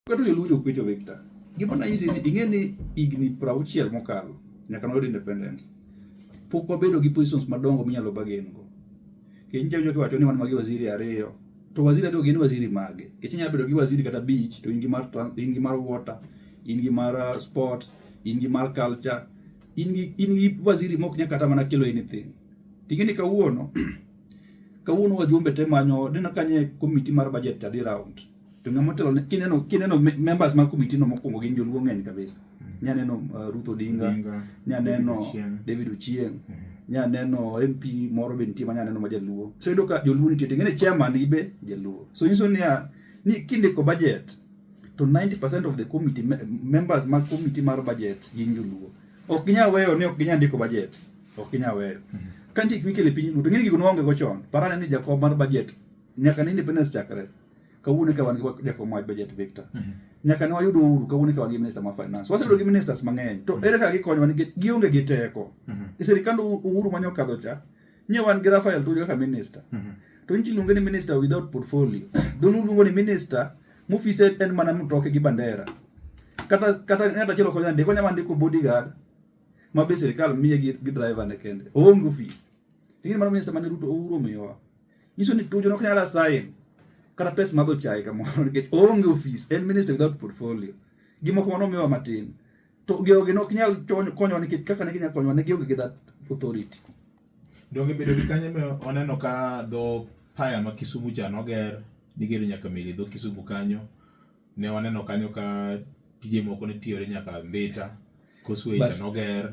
Kata joluo jokwecho Victor. Gima nanyisi ni ing'e ni higni prauchiel mokalo nyaka noyud independence. Pok wabedo gi positions madongo minyalo bagen go. Kech nitie jok wacho ni wan magi waziri ariyo. To waziri ariyo gin waziri mage? Kech inyalo bedo gi waziri kata beach to in gi mar in gi mar water, in gi mar uh, sports, in gi mar culture, in gi in gi waziri mok nyaka kata mana kelo anything. Ting'e ni kawuono kawuono wajumbe te manyo neno kanye komiti mar budget adhi round to ng'ama otelo kineno kineno members mag committee no mokwongo gin joluo ng'eny kabisa mm. nyaneno uh, Ruth Odinga nyaneno David Ochieng mm. nyaneno MP moro be nitie ma nyaneno ma jaluo so yudo ka joluo nitie to ng'ene chairman ibe jaluo so nyiso niya ni kindiko budget to 90% of the committee members mag committee mar budget gin joluo ok ginyal weyo ni ok ginyal ndiko budget ok ginyal weyo mm -hmm. ka ndik mikele piny duto ng'eni gigo nwaonge go chon parane ni jakom mar budget nyaka ne independence chakre kawuono ka wan gi jakom wach budget Victor mm -hmm. nyaka ne wayudo Uhuru kawuono ka wan gi minister ma finance wasebedo gi ministers mang'eny to mm -hmm. ere kaka gikonyowa nikech gionge gi teko mm -hmm. e sirikand Uhuru mane okadho cha nye wan gi Rafael Tuju kaka minister mm -hmm. to nchi luonge ni minister without portfolio dholuo luongo ni minister mofise en mana mtoke gi bandera kata kata ng'at achiel ok onyal ndiko onyalo ndiko bodyguard ma be sirikal miye gi driver ne kende oonge ofis ing'e mano minister mane Ruto Uhuru omiyowa Nyiso ni tuju ok nyal asayin kata pes madho chai kamoro nikech oonge ofis en minister without portfolio gi moko mano miwa matin to geogi ne ok nyal konyowa nikech kaka ne ginyalo konyowa ne gionge gi that authority donge bedo gi kanyo me oneno ka dho paya ma Kisumu cha noger nigero nyaka meli dho Kisumu kanyo ne waneno kanyo ka tije moko ne tiyore nyaka Mbita Causeway cha noger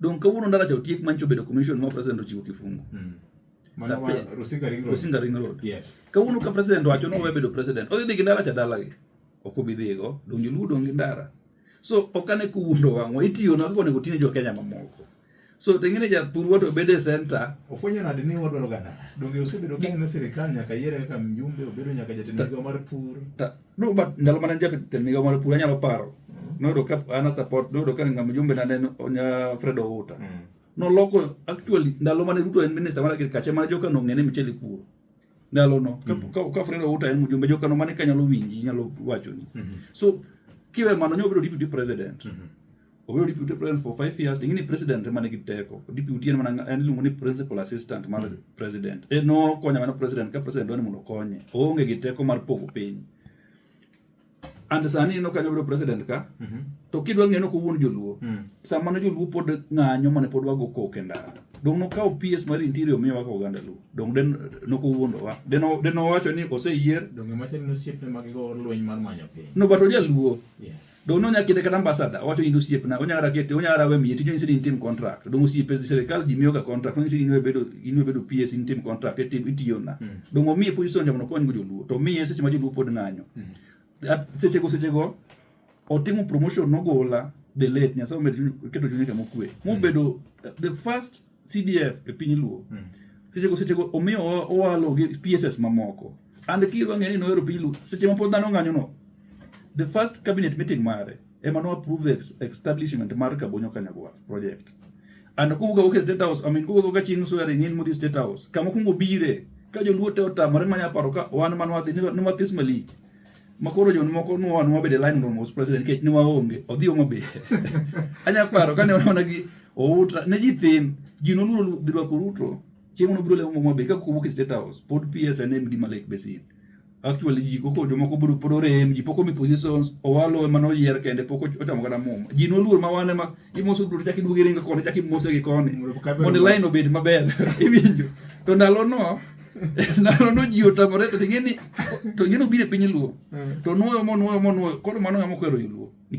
Don kawuono ndara cha otiek mancho bedo commission ma president ochiwo kifungu. Mm. Mana ma Rusinga Ring Road. Rusinga Ring Road. Yes. Kawuono ka president wacho ni owe bedo president. Odhi dhi gi ndara cha dalagi. Ok obi dhigo. Don joluo dong' gi ndara. So ok ane kuwundo wang'wa. Itiyo na kaka onego tine jo Kenya mamoko. So tengine ja thurwa to obede center. Ofwenyo nade ni wadwaro gana. Donge osebedo ka en sirkal nyaka yiere kaka mjumbe obedo nyaka jatend migawo mar pur. No, but ndalo mana jata teniga mara pura nyalo paro. Mm. No do ka ana support do do ka ngam jumbe na neno onya Fred Outa. Mm. No loko actually ndalo mana Ruto en minister mara kir kache mara joka no ngene micheli puro. Ndalo no ka mm. ka, ka Fred Outa en mjumbe joka no mane kanyalo winji nyalo wacho ni. Mm -hmm. So kiwe mano nyo biro deputy president. Mm -hmm. obedo deputy president for five years ingini president mane gi teko deputy en mana en iluongo ni principal assistant mar mm. president e no konya mana president ka president dwani mondo konye oonge gi teko mar pogo piny and sani ino kanyo bedo president ka mm -hmm. to kidwa ng'eyo no kowuon joluo mm. sama ne joluo pod ng'anyo mane pod wago kok e ndara dong nokawo PS mar interior omiyo waka oganda luo dong den nokowuondowa den den owacho ni oseyier dong ema chal ni osiepne mag go lweny mar manyo piny no but ojaluo yes Dong nonya kete kata ambasada owacho in osiepna onya kata kete onya kata we miye tijno insin intim contract dong osiepe sirikal ji miyoga contract insin inwe bedo inwe bedo PS intim contract itim itiyona mm. dong omiye position jamono konygo joluo to miye seche ma joluo pod ng'anyo mm. sechego sechego otimo promotion nogola the late nyasaye omed keto chunyega mokwe mobedo mm. the first CDF e piny Luo. Mm. Seche go seche go omiyo owalo gi PSS mamoko. And kiro ang'e ni noero piny Luo. Seche mapod dhano ng'anyo no. The first cabinet meeting mare ema no approve ex establishment mar Kabonyo Kanyagwa project. And kuga oke State House, I mean kuga ka ching swearing in mudhi State House. Kama kungo bire ka joluo te otamore manya paro ka wan manwa dhi ni mathis malik. ma koro jon moko nwa nwa bede line room was president kech ne waonge odhi omo be anya paro kane wana gi outa ne ji thin ji noluoro dhi rwako ruto chieng' no biro lemo mwa be ka kowuok e state house pod PS and MD ma Lake Basin actually ji koko jomoko biro pod orem ji poko mi positions owalo ema noyier kende pok ochamo kata muma ji noluor ma wane ma imoso duto chaki duogi ringa koni chaki mose gi koni Mondo kabe- mondo line obed maber iwinjo to ndalo no nano no ji otamore to ing'e ni to ing'e ni obiro e piny luo to nuoyo monuoyo monuoyo koro mano ng'ama okwero joluo